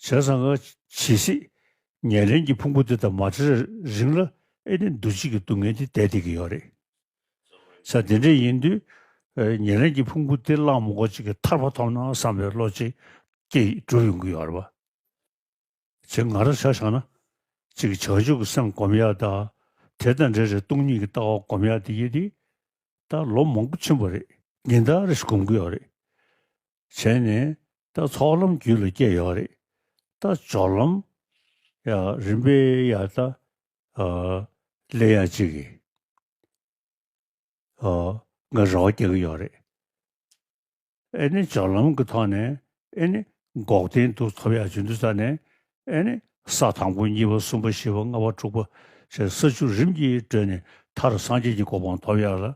བྱས་ཙང་ང་ཇི་སྲིད་ཉེར་ལེན་གྱི་ཕུང་པོ་འདི་དང་མ་བྲལ་རིང་ལ་ཨེ་ནི་འདུ་བྱེད་ཀྱི་སྡུག་བསྔལ་འདི་བསྡད་བསྡད་ཀྱི་ཡོད་རེད། ཆ་དེ་འདྲ་ཡིན་དུས་ཉེར་ལེན་གྱི་ཕུང་པོ་འདི་གླགས་མགོ་གཅིག་གིས་ཐར་པ་ཐོབ་ན་བསམ་པའི་བློ་ཅིག་སྐྱེས་གྲུབ་ཡོང་གི་ཡོད་རེད། བྱེད་ང་རང་བྱ་བཞག་ན་ཅིག་བྱང་ཆུབ་ཀྱི་སེམས་བསྒོམ་ཡག་དང་དེ་དང་འདྲེས་རེ་སྟོང་ཉིད་ཀྱི་ལྟ་བ་བསྒོམ་ཡག་འདི་ཡིན་དུས་ད་ལོ་མང་པོ་ཕྱིན་པ་རེད་ཉིན་ལྟར་རེ་ཞིག་བསྒོམ་གྱི་ཡོད་རེད། བྱས་ནས། ད་ཚོགས་ལམ་རྒྱུད་ལ་སྐྱེས་ཡོད་རེད། ད་སྦྱོར་ལམ། ཡང་རིམ་པས་ཡང་ད་ལས་ཡང་ཅིག་གིས། ང་རེ་བ་རྒྱག་གི་ཡོད་རེད། ཨེ་ནི་སྦྱོར་ལམ་གྱི་ཐོག་ནས་ཨེ་ནི་འགོག་བདེན་སྡུག་ཐོབ་ཡག་བྱུང་དུས་ས་ནས་ཨེ་ནི་ས་དང་པོ་གཉིས་པ་གསུམ་པ་བཞི་པ་ལྔ་པ་དྲུག་པ་ཞེས་ས་བཅུ་རིམ་གྱིས་བགྲོད་ནས་མཐར་སངས་རྒྱས་ཀྱི་གོ་འཕང་ཐོབ་ཡག་ལ།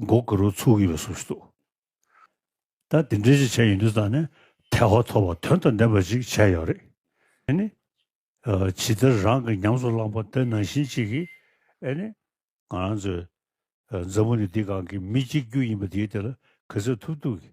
མགོ་དགུ་རུ་ཚུགས་ཡོད་སུ་ཞིག་འདུག་ད་དེ་འདྲའི་ཞིག་བྱས་ཡོད་དུས་ད་ནི་ཐལ་བ་ཐོབ་པ་དོན་དང་ལྡན་པ་ཞིག་བྱས་ཡོད་རེད་ཨེ་ནི། ཇི་ལྟར་རང་གི་ཉམས་སུ་བླངས་པ་དེ་ནང་བཞིན་གཅིག་གིས་ཨེ་ནི། ང་རང་ཚོའི་མཛའ་མོ་ནི་འདི་གང་གི་མི་གཅིག་གྱུར་ཡིན་པ་དེའི་དེ་ལ་ག་ཚོད་ཐུབ་ཐུབ་ཀྱིས